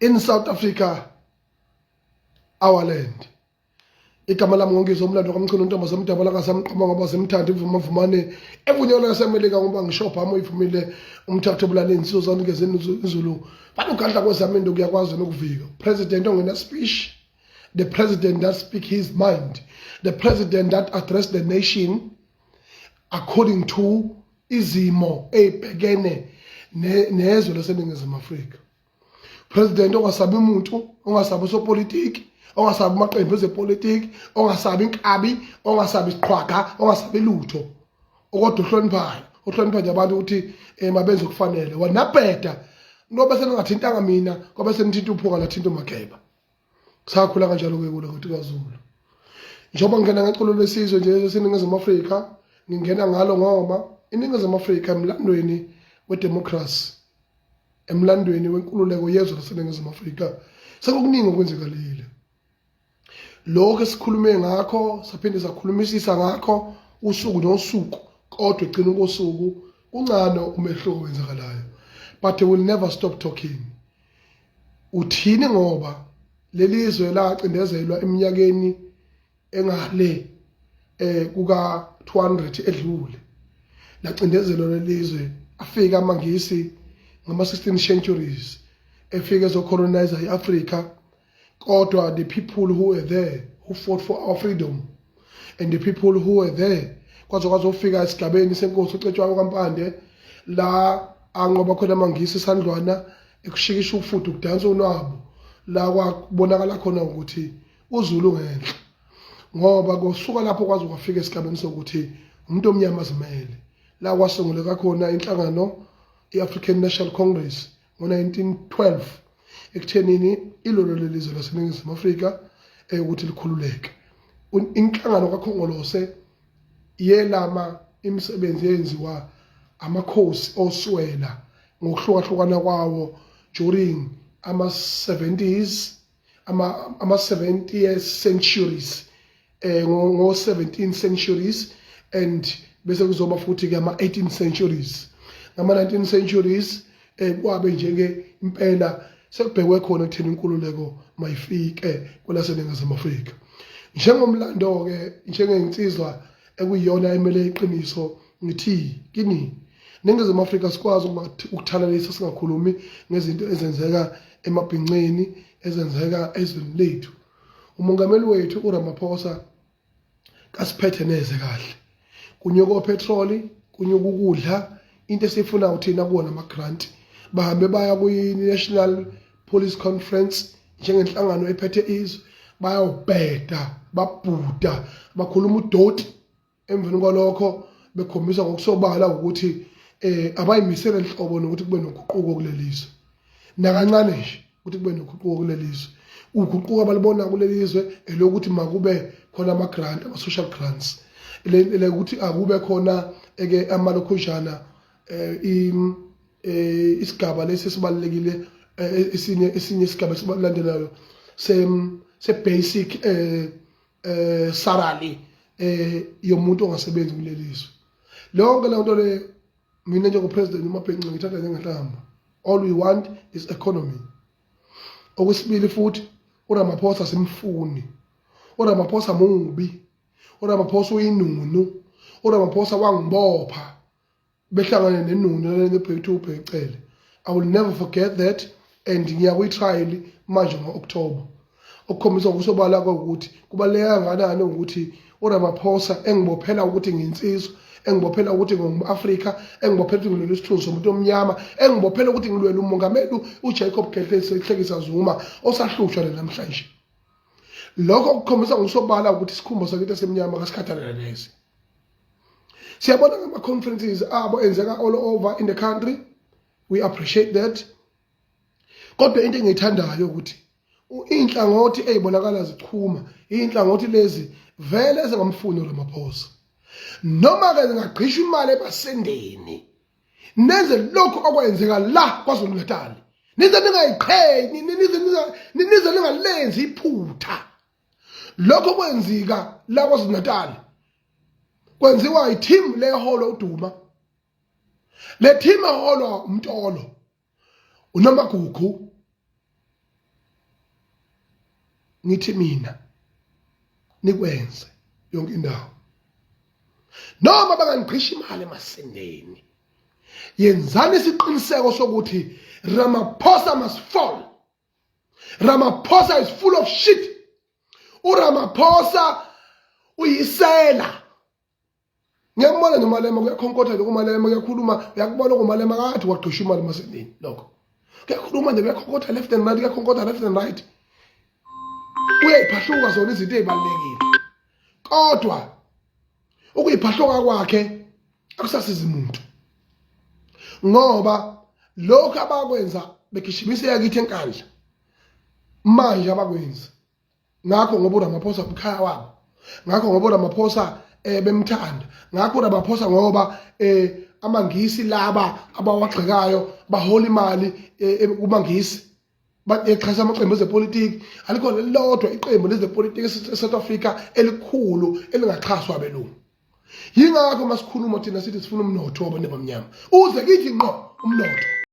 in South Africa our land igama lami ngongizo umlando kamchunu ntombo semdabala kasamqoma ngoba semthanda ivuma vumane evunyelwe yasemelika ngoba ngishopha amo ivumile umthatha obulala izinsizo zami ngezeni izulu bani ugandla kwezami into kuyakwazi nokuvika president ongena speech the president that speak his mind the president that address the nation according to izimo eyibhekene nezwe laseningizimu afrika president ongasabi umuntu ongasabi usopolitiki ongasabi amaqembu ezepolitiki ongasabi inkabi ongasabi isiqhwaga ongasabi lutho okodwa ohloniphayo ohlonipha nje abantu ukuthi um mabenze okufanele wanabheda noba seningathintanga mina kwabe senithinta uphunga nathinta umageba sakhula kanjalo ke kulo kuthi kwaZulu njengoba ngingena ngeculo lwesizwe nje esiningizimu Afrika ngingena ngalo ngoba iningizimu Afrika emlandweni wedemocracy emlandweni wenkululeko yezwe laseningizimu Afrika sekukuningi okwenzekalile lokho esikhulume ngakho saphinde sakhulumisisa ngakho usuku nosuku kodwa egcina kosuku kuncane umehluko wenzakalayo but they will never stop talking uthini ngoba lelizwe lacindezelwa eminyakeni engale eh kuka 200 edlule lacindezelwa lelizwe afika amangisi ngama 16 centuries efike ezocolonize iAfrica kodwa the people who were there who fought for our freedom and the people who were there kwaze kwazofika esigabeni senkosi ucetshwayo kampande la anqoba khona amangisi isandlwana ekushikisha ufudu kudansa unwabo la kwabonakala khona ukuthi uzulu ngenhla ngoba kosuka lapho kwaze kwafika esigabeni sokuthi umuntu omnyama azimele la kwasunguleka khona inhlangano i-african national congress ngo-1912 ekuthenini ilolo lelizwe laseningizimu afrika eyokuthi likhululeke inhlangano kakhongolose yelama imisebenzi eyenziwa amakhosi oswela ngokuhlukahlukana kwawo during ama-70s ama ama 70 centuries eh ngo, ngo 17 centuries and bese kuzoba futhi ke ama 18 centuries ngama 19 centuries eh kwabe nje ke impela sekubhekwe khona ekutheni inkululeko mayifike kwelaseningizimu Afrika njengomlando ke njengeyinsizwa ekuyiyona emele iqiniso ngithi kini ningizimu afrika sikwazi ukuthalalisa singakhulumi ngezinto ezenzeka emabhinceni ezenzeka ezweni lethu umongameli wethu uramaphosa kasiphethe neze kahle kunyuka opetroli kunyuka ukudla into esiyifunayo thina kuwona ama-grant bahambe baya kwi-national Police Conference njengenhlangano ephethe izwe bayawubheda babhuda bakhuluma udoti emveni kwalokho bekhombisa ngokusobala ukuthi eh abayimisele inhlobo nokuthi kube noguquko kulelizwe nakancane nje ukuthi kube noguquko kulelizwe uguquko abalibona kulelizwe elokuthi makube khona ama grant ama social grants le ukuthi akube khona eke amalokhujana um isigaba lesi esibalulekile esinye esinye isigaba esilandelayo se se basic eh eh salary eh yomuntu ongasebenzi kulelizwe lonke lento le mina njengo president uMabhenqe ngithatha njengenhlamba all we want is economy okwesibili futhi uRamaphosa simfuni uRamaphosa mubi uRamaphosa uyinunu uRamaphosa wangibopha behlangane nenunu lale bebhekithe ubhekicele i will never forget that and ngiya kwitrial manje ngo-october okukhombisa ngokusobala kwawukuthi kubaluleke kangakanani ukuthi uramaphosa engibophela ukuthi nginsizwa engibophela ukuthi ngingu-afrika engibophela ukuthi ngilwela isithunzi somuntu omnyama engibophela ukuthi ngilwela umongameli ujacob gehlekisa zuma osahlushwa le namhlanje lokho kukhombisa ngokusobala ukuthi isikhumbo sakithi esimnyama kasikhathalele neze siyabona ngama-conferences abo enzeka all over in the country we appreciate that kodwa into engiyithandayo ukuthi iy'nhlangothi ey'bonakala zichuma iy'nhlangothi lezi vele ezingamfuni uramaphosa noma-ke zingagqisha imali ebasendeni nenze lokhu okwenzeka la kwazulu natali nize ningayiqhenyi nize ningalenzi iphutha lokho kwenzika la KwaZulu-Natal kwenziwa i-team leholo uDuma le team eholwa uMtolo uNomagugu ngithi mina nikwenze yonke indawo noma bangangiqhishi imali emasendeni yenzani isiqiniseko sokuthi Ramaphosa must fall Ramaphosa is full of shit uRamaphosa uyisela ngiyambona nje umalema kuyakhonkotha lokho umalema kuyakhuluma uyakubona ukumalema kathi wagqisha imali masendini lokho kuyakhuluma nje kuyakhonkotha left and right kuyakhonkotha left and right uyayiphahluka zona izinto ezibalekile kodwa ukuyiphahloka kwakhe akusasizi muntu ngoba lokho abakwenza begishimisa yakithi enkandla manje abakwenzi ngakho ngoba uRamaphosa umkhaya wabo ngakho ngoba uRamaphosa eh bemthanda ngakho uRamaphosa ngoba eh amangisi laba abawagxekayo bahola imali eh, kumangisi exhasa amaqembu ezepolitiki alikhona elilodwa iqembu lezepolitiki e-south africa elikhulu elingaxhaswa abelungu yingakho masikhuluma thina sithi sifuna umnotho wabantu abamnyama uze kithi ngqo umnotho